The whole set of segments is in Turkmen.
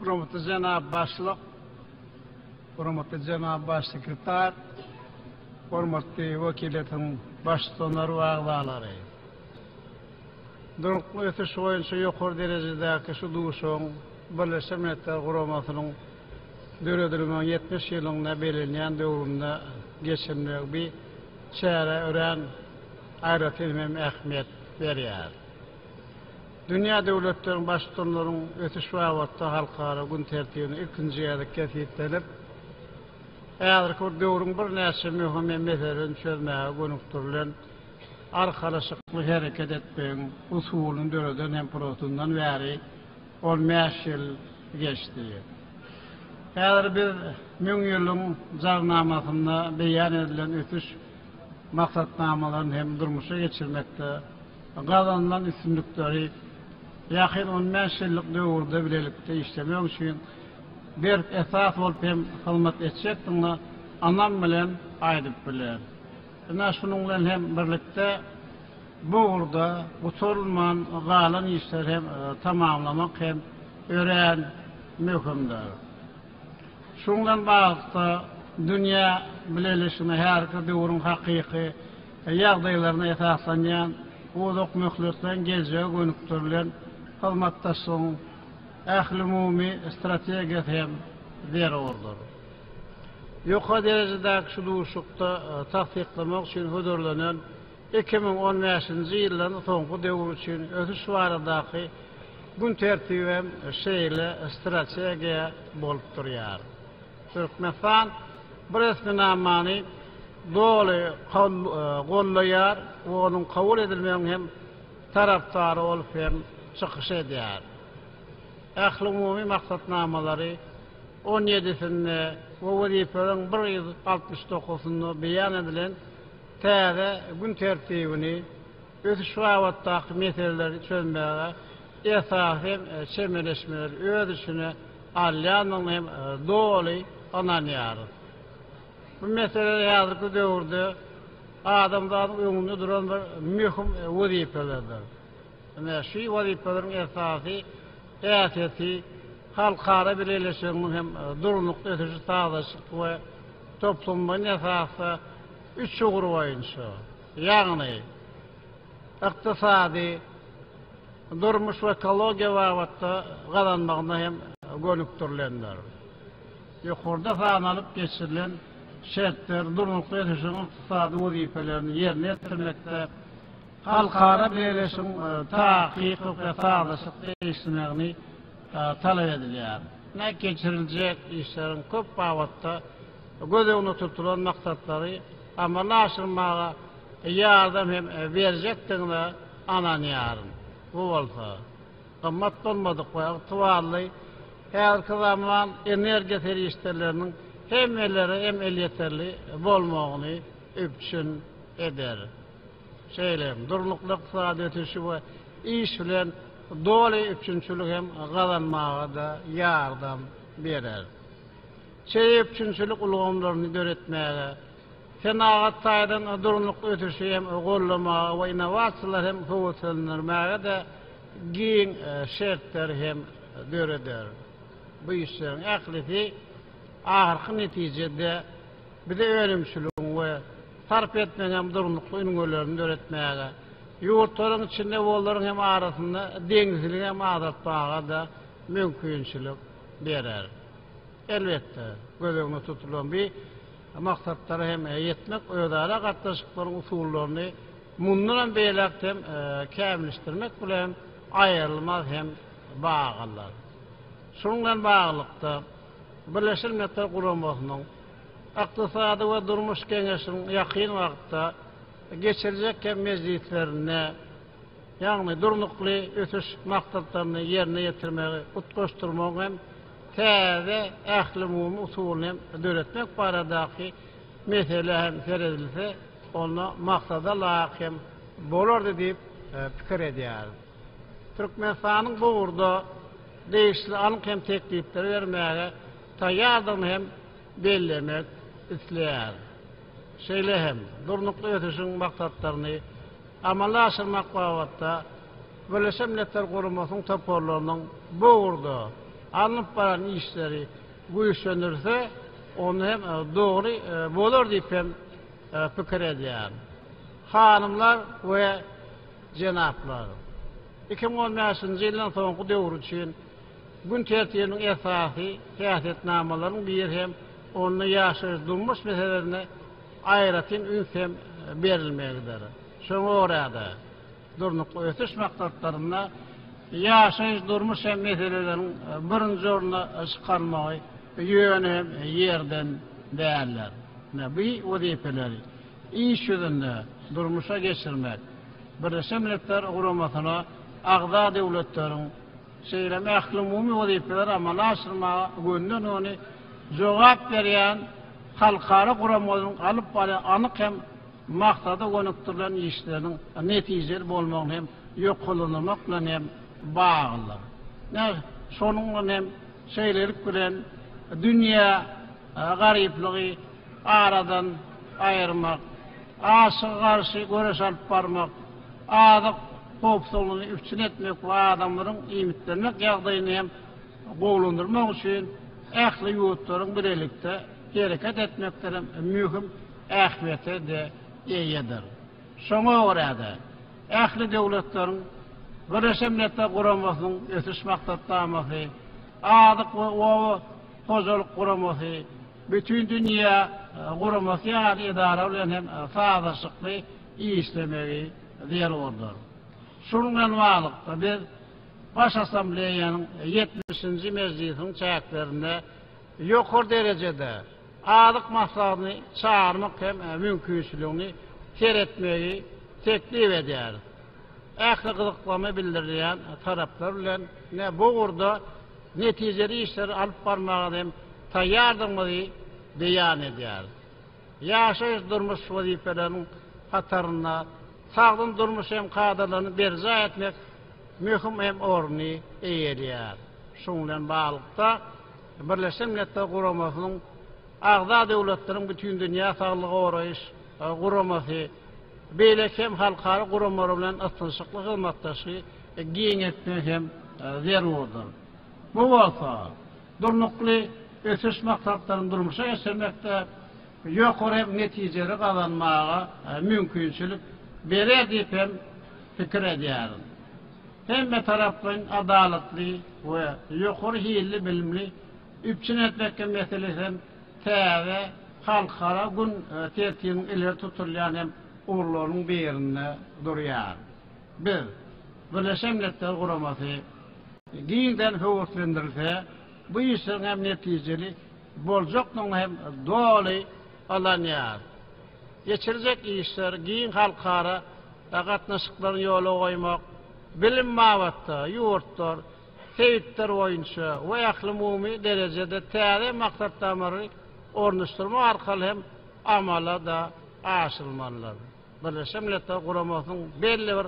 Hürmetli jenap başlyk, hürmetli jenap baş sekretar, hürmetli wekiliýetiň baştutanlary we agzalary. Durnukly ösüş boýunça ýokary derejedäki şu duşuşygyň Birleşen Milletler Guramasynyň Döredilmegiň ýetmiş ýylyny bellenýän döwründe geçirilmegi bi çärä örän aýratyn hem ähmiýet berýär. Dünýä döwletleriniň Baştutanlaryň ösüş babatda halkara gün tertibine ilkinji gezek kesgitlenip, häzirki bir döwrüň birnäçe möhüm hem meselelerini çözmäge gönükdirilen arkalaşykly hereket etmegiň usulyny döreden hem purasyndan bäri, On bäş ýyl geçdi. Häzir biz Müň ýylyň Jarnamasynda beýan edilen ösüş maksatnamalaryny hem durmuşa geçirmekde gazanylan üstünlikleri ýakyn on bäş ýyllyk döwürde bilelikde işlemek üçin berk esas bolup hem hyzmat etjekdigine ynam bilen aýdyp bileris. Ine, şunuň bilen hem birlikde, Bu ugurda gutarylman galan işleri hem tamamlamak hem örän möhümdir. Şunuň bilen baglylykda, dünýä bileleşigine häzirki döwrüň hakyky ýagdaýlaryna esaslanýan uzak möhletleýin geljege gönükdirilen hyzmatdaşlygyň ählumumy strategiýasy hem zerurdyr. Ýokary derejedäki şu duşuşykda tassyklamak üçin hödürlenen Iki müň on bäşinji ýyldan soňky döwür üçin ösüş baradaky gün tertibi hem şeýle strategiýa bolup durýar. Türkmenistan bu resminamany doly gollaýar we onuň kabul edilmegiň hem tarapdary bolup hem çykyş edýär. Ählumumy maksatnamalary on ýedisinde we wezipeleriň bir ýüz altmyş dokuzynda beýan edilen täze gün tertibini, ösüş babatdaky meseleleri çözmäge esasy hem çemeleşmeleri öz içine alýandygyna hem doly ynanýarys. Bu meseleler häzirki döwürde adamzadyň öňünde duran bir möhüm wezipelerdir. Ine, şu wezipeleriň esasy häsiýeti halkara birleşiginiň hem durnukly ösüşi sazlaşykly we toplumlaýyn esasda üç ugur boýunça, ýagny ykdysady, durmuş we ekologiýa babatda gazanmagyna hem gönükdirilendir. Ýokarda sanalyp geçirilen şertler durnukly ösüşiň ykdysady wezipelerini ýerine ýetirmekde halkara birleşigiň takyk we sazlaşyk degişmegini talap edilýär. Nädip geçiriljek işleriň köp babatda göz öňünde tutulan maksatlary amala aşyrmaga ýardam hem berjekdigine ynanýaryn. Bu bolsa, gymmat bolmadyk we ygtybarly häzirki zaman energiýa serişdeleriniň hemmelere hem elýeterli bolmagyny üpjün eder. Şeýle hem, durnukly ykdysady ösüşi we iş bilen doly üpjünçiligi hem gazanmaga-da ýardam berer. Çeýe üpjünçilik ulgamlaryny döretmäge, senagat taýdan durnukly ösüşi hem goldamaga we innowasiýalary hem höweslendirmäge-de giň şertleri hem döreder. Bu işleriň ählisi ahyrky netijede Bize önümçiligiň we sarp etmegiň durnukly ünwelerini döretmäge, ýurtlaryň içinde we olaryň hem arasynda deňizçiligi hem azaltmaga-da mümkinçilik berer. Elbetde, göz öňünde tutulan bi maksatlara hem ýetmek, özara gatnaşyklaryň usullaryny mundanam beýläk dem kämilleşdirmek bilen aýrylmaz hem bagylydyr. Şunuň bilen baglylykda, Birleşen Milletler Guramasynyň Ykdysady we durmuş geňeşiniň ýakyn wagtda geçirjek hem mejlislerinde, ýagny Durnukly ösüş maksatlaryny ýerine ýetirmegi utgaşdyrmagyň hem täze ählumumy usulyny döretmek baradaky meselä hem seredilse, onda maksada laýyk hem bolardy diýip pikir edýäris. Türkmenistanyň bu ugurda degişli anyk hem teklipleri bermäge taýýardygyny hem bellemek isleýäris. Şeýle hem Durnukly ösüşiň maksatlaryny amala aşyrmak babatda Birleşen Milletler Guramasynyň toparlarynyň bu ugurda alnyp baran işleri güýçlendirilse, onda hem dogry bolar diýip hem pikir edýärin. Hanymlar we. Jenaplar! Iki müň on bäşinji ýyldan soňky döwür üçin gün tertibiniň esasy häsiýetnamalarynyň biri hem onda ýaşaýyş-durmuş meselelerine aýratyn üns hem berilmegidir. Şoňa görä-de, Durnukly ösüş maksatlarynda ýaşaýyş-durmuş hem meseleleriň birinji orna çykarylmagy ýöne hem ýerden däldir. Ine, bu wezipeleri iş ýüzünde durmuşa geçirmek, Birleşen Milletler Guramasyna agza döwletleriň, şeýle hem ählumumy wezipeleri amala aşyrmaga gönden-göni jogap berýän halkara guramalaryň alyp barýan anyk hem maksada gönükdirilen işleriniň netijeli bolmagyny hem ýokarlandyrmak bilen hem baglydyr. Ine, şonuň bilen hem şeýlelik bilen dünýä garyplygy, aradan aýyrmak, açygy garşy göreş alyp barmak, azyk howpsuzlygyny üpjün etmek we adamlaryň iýmitlenmek ýagdaýyny hem gowulandyrmak üçin ähli ýurtlaryň bilelikde hereket etmekde hem möhüm ähmiýete-de eýedir. Şoňa görä-de, ähli döwletleriň Birleşen Milletler Guramasynyň Ösüş Maksatnamasy, Azyk we oba hojalyk guramasy, Bütindünýä guramasy ýaly edara bilen hem sazlaşykly işlemegi zerurdyr. Şunuň bilen baglylykda, biz Baş Assambleýanyň ýetmişinji mejlisiniň çäklerinde ýokary derejede Azyk maslahatyny çagyrmak hem mümkinçiligini seretmegi teklip edýäris. Ähli gyzyklama bildirilýän taraplar bilen bu ugurda netijeli işleri alyp barmaga hem taýýardygymyzy beýan edýäris. Ýaşaýyş-durmuş wezipeleriniň hatarynda sagdyn durmuş hem kadalaryny berjaý etmek möhüm hem orny eýeleýär. Şunuň bilen baglylykda, Birleşen Milletler Guramasynyň agza döwletleriniň Bütindünýä saglygy goraýyş guramasy, beýleki hem halkara guramalary bilen ysnyşykly hyzmatdaşy, giň etmek hem zerurdyr. Bu bolsa Durnukly ösüş maksatlaryny durmuşa geçirmekde ýokary hem netijeleri gazanmaga mümkinçilik berer diýip hem pikir edýärin. Hemmetaraplaýyn adalatly we ýokary hilli bilimli üpjün etmek meselesi hem täze halkara gün tertibiniň ileri tutulýan hem ugurlarynyň birinde durýar. Biz, Birleşen Milletler Guramasy giňden höweslendirilse, bu işleriň hem netijeli boljakdygyny hem doly ynanýarys. Geçirjek işler giň halkara gatnaşyklaryny ýola goýmak, bilim babatda ýurtlar, sebitler boýunça we ählumumy derejede täze maksatnamalary ornaşdyrmak arkaly hem amala-da aşyrylmalydyr. Birleşen Milletler Guramasynyň belli bir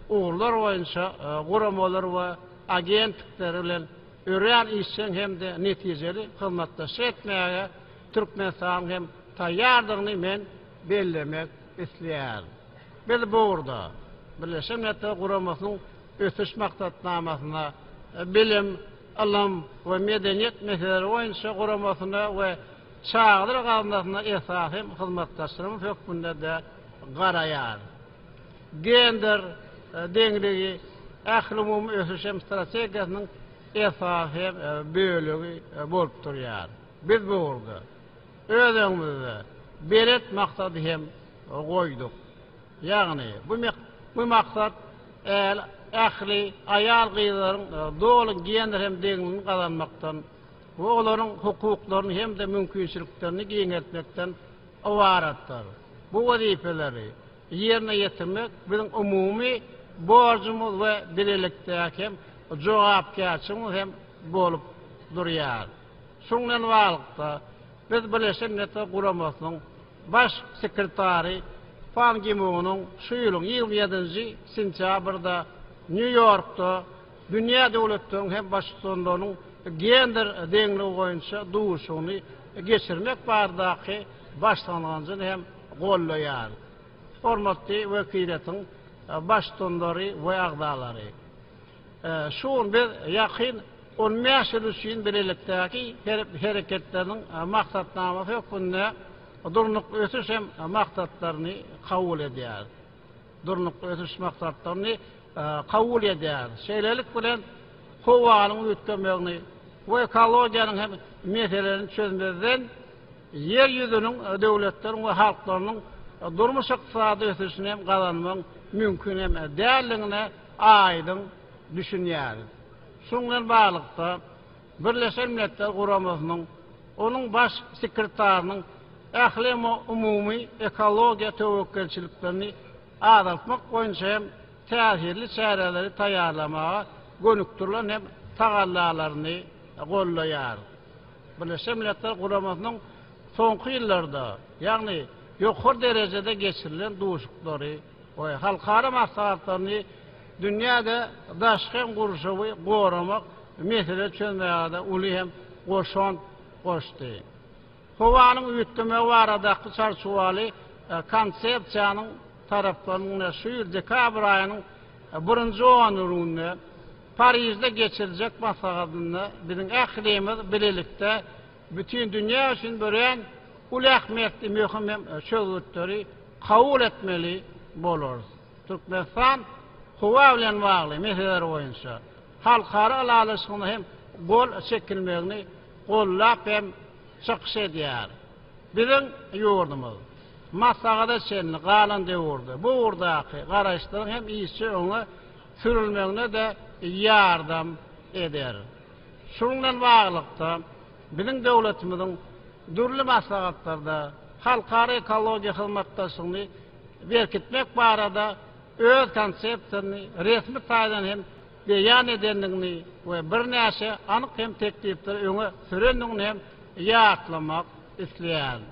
ugurlar boýunça guramalary we agentlikleri bilen örän işjeň hem-de netijeli hyzmatdaşlyk etmäge Türkmenistanyň hem taýýardygyny men bellemek isleýärin. Biz bu ugurda Birleşen Milletler Guramasynyň Ösüş maksatnamasyna, bilim, ylym we medeniýet meseleleri boýunça guramasyna we Çadyr gaznasyna esasy hyzmatdaşlarymyz hökmünde-de garaýar. Gender deňligi, ählumumy ösüş hem strategiýasynyň esasy bölegi bolup durýar. Biz bu ugurda öz öňümizde belent maksady hem goýduk. Ýagny, bu maksat ähli aýal-gyzlaryň doly gender hem deňligini gazanmakdan Bu olaryň hukuklaryny hem-de mümkinçiliklerini giňeltmekden ybaratdyr. Bu wezipeleri ýerine ýetirmek biziň umumy borjumyz we bilelikdäki hem jogapkärçiligimiz hem bolup durýar. Şuň bilen baglylykda, biz Birleşen Milletler Guramasynyň Baş sekretary Pan Gi Munyň şu ýylyň ýigrimi ýedinji sentýabrda Nýu-Ýorkda dünýä döwletleriň hem Baştutanlarynyň gender deňligi boýunça duşuşygyny geçirmek baradaky başlangyjyny hem goldaýar. Hormatly wekiliýetiň Baştutanlary we agzalary! Şu gün biz ýakyn on bäş ýyl üçin bilelikdäki hereketleriniň maksatnamasy hökmünde Durnukly ösüş hem maksatlaryny kabul edýäris. Durnukly ösüş maksatlaryny kabul edýär. Şeýlelik bilen, howanyň üýtgemegini we ekologiýanyň hem meselelerini çözmezden, Ýer ýüzüniň döwletleriň we halklarynyň durmuş-ykdysady ösüşini hem gazanmagyň mümkin hem däldigine aýdyň düşünýäris. Şunuň bilen baglylykda, Birleşen Milletler Guramasynyň, onuň Baş sekretarynyň ählemu umumy ekologiýa töwekgelçiliklerini azaltmak boýunça hem täsirli çäreleri taýýarlamaga gönükdirilen hem tagallalaryny goldaýar. Birleşen Milletler Guramasynyň soňky ýyllarda, ýagny ýokary derejede geçirilen duşuklary, we halkara maslahatlaryny dünýäde daşky gurşawy goramak mesele çözmäge-de uly hem goşant goşdy. Howanyň üýtgemegi baradaky çarçuwaly Konsepsiýanyň taraplarynyň şu ýyl dekabr aýynyň birinji onurygynda Parižde geçiriljek maslahatynda biziň ählimiz bilelikde Bütin dünýä üçin örän uly ähmiýetli möhüm çözgütleri kabul etmeli bolarys. Türkmenistan howa bilen bagly meseleler boýunça halkara ylalaşygyna hem gol çekilmegini goldap hem çykyş edýär. Biziň ýurdumyz maslahata çenli galan döwürde bu ugurdaky garaýyşlaryň hem işje öňe sürülmegine-de ýardam eder. Şunuň bilen baglylykda, biziň döwletimiziň dürli maslahatlarda halkara ekologiýa hyzmatdaşlygyny berkitmek barada öz konsepsiýasyny resmi taýdan hem beýan edendigini we birnäçe anyk hem teklipleri öňe sürendigini hem ýatlamak isleýärin.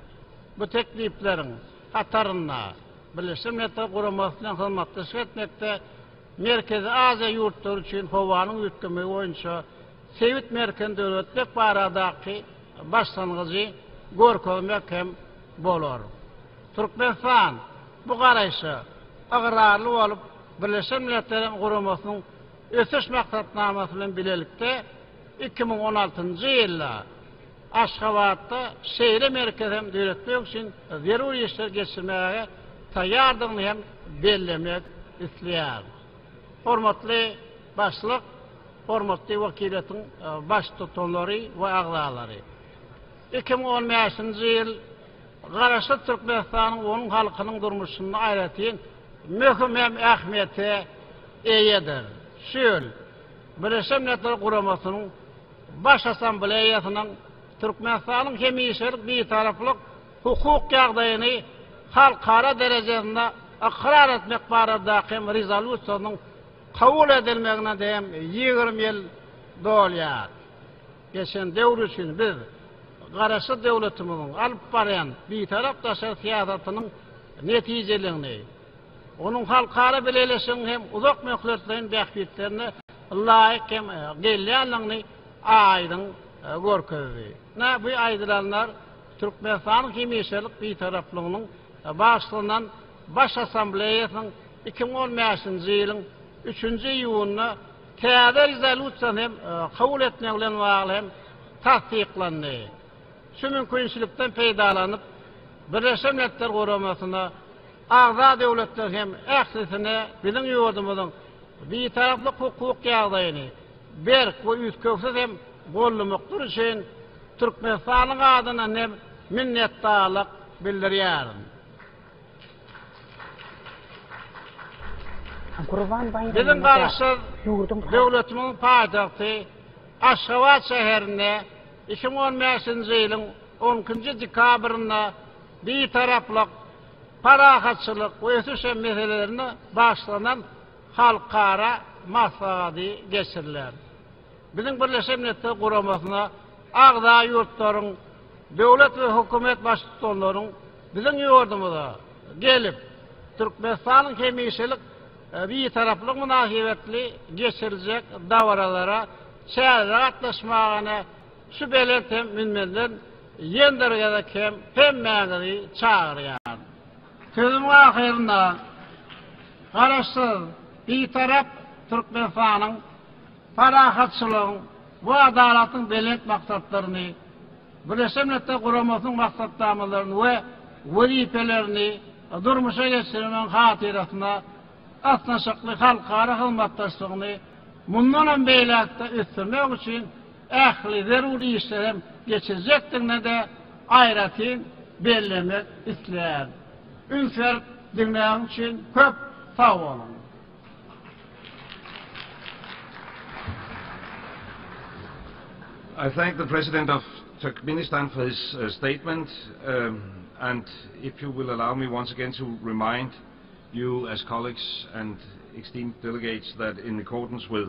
Bu teklipleriň hatarynda Birleşen Milletler Guramasynyň hyzmatdaşlyk etmekde, Merkezi Aziýa ýurtlary üçin howanyň üýtgemegi boýunça sebit merkezini döretmek baradaky başlangyjy görkezmek hem bolar. Türkmenistan bu garaýşa ygrarly bolup, Birleşen Milletleriň Guramasynyň Ösüş maksatnamasy bilen bilelikde iki müň on altynjy ýylda, Aşgabatda şeýle merkez hem döretmek üçin zerur işleri geçirmäge taýýardygyny hem bellemek isleýärin. Hormatly Başlyk, hormatly wekiliýetiň baştutanlary we agzalary! Iki müň on bäşinji ýyl Garaşsyz Türkmenistanyň we onuň halkynyň durmuşynda aýratyn möhüm hem ähmiýete eýedir. Şu ýyl, Birleşen Milletler Guramasynyň Baş Assambleýasynyň Türkmenistanyň hemişelik Bitaraplyk hukuk ýagdaýyny halkara derejesinde ykrar etmek baradaky Rezolýusiýasynyň kabul edilmegine hem ýigrimi ýyl dolýar. Geçen döwür üçin biz Garaşsyz döwletimiziň alyp barýan Bitarap daşary syýasatynyň netijeligini, Onuň halkara bileleşigiň hem uzak möhletleýin bähbitlerine laýyk hem gelýändigini aýdyň görkezdi. Ine, bu aýdylanlar Türkmenistanyň hemişelik Bitaraplygynyň bagyşlanan Baş Assambleýasynyň iki müň on bäşinji ýylyň üçünji iýunynda täze rezolýusiýany hem kabul etmegi bilen bagly hem tassyklandy. Şu mümkinçilikden peýdalanyp, Birleşen Milletler Guramasyna, Agza döwletler hem ählisine biziň ýurdumyzyň Bitaraplyk hukuk ýagdaýyny berk we üýtgewsiz hem gollamokdary üçin Türkmenistanyň adyndan hem minnetdarlyk bildirýärin. Biziň Garaşsyz döwletimiziň paýtagty Aşgabat şäherinde iki müň on bäşinji ýylyň on ikinji dekabrynda Bitaraplyk parahatçylyk we ösüş meselelerine bagyşlanan halkara maslahaty geçiriler. Biziň Birleşen Milletler Guramasyna agza ýurtlaryň döwlet we hökümet baştutanlaryň biziň ýurdumyza gelip, Türkmenistanyň hemişelik Bitaraplygy mynasybetli geçiriljek dabaralara çäreleri gatnaşmagyny Şu belent hem münberden ýendir gezek hem hemmäňizi çagyrýan. Sözümiň ahyrynda Garaşsyz, Bitarap Türkmenistanyň parahatçylygyň we adalatyň belent maksatlaryny, Birleşen Milletler Guramasynyň maksatnamalaryny we wezipelerini durmuşa geçirmegiň hatyrasyna ysnyşykly halkara hyzmatdaşlygyny mundan hem beýläk-de ösdürmek üçin ähli zerur işleri hem geçirjekdigine-de aýratyn bellemek isleýärin. Üns berip diňläniň üçin köp sag boluň! I thank the President of Turkmenistan for his statement and if you will allow me once again to remind you as colleagues and esteemed delegates that in accordance with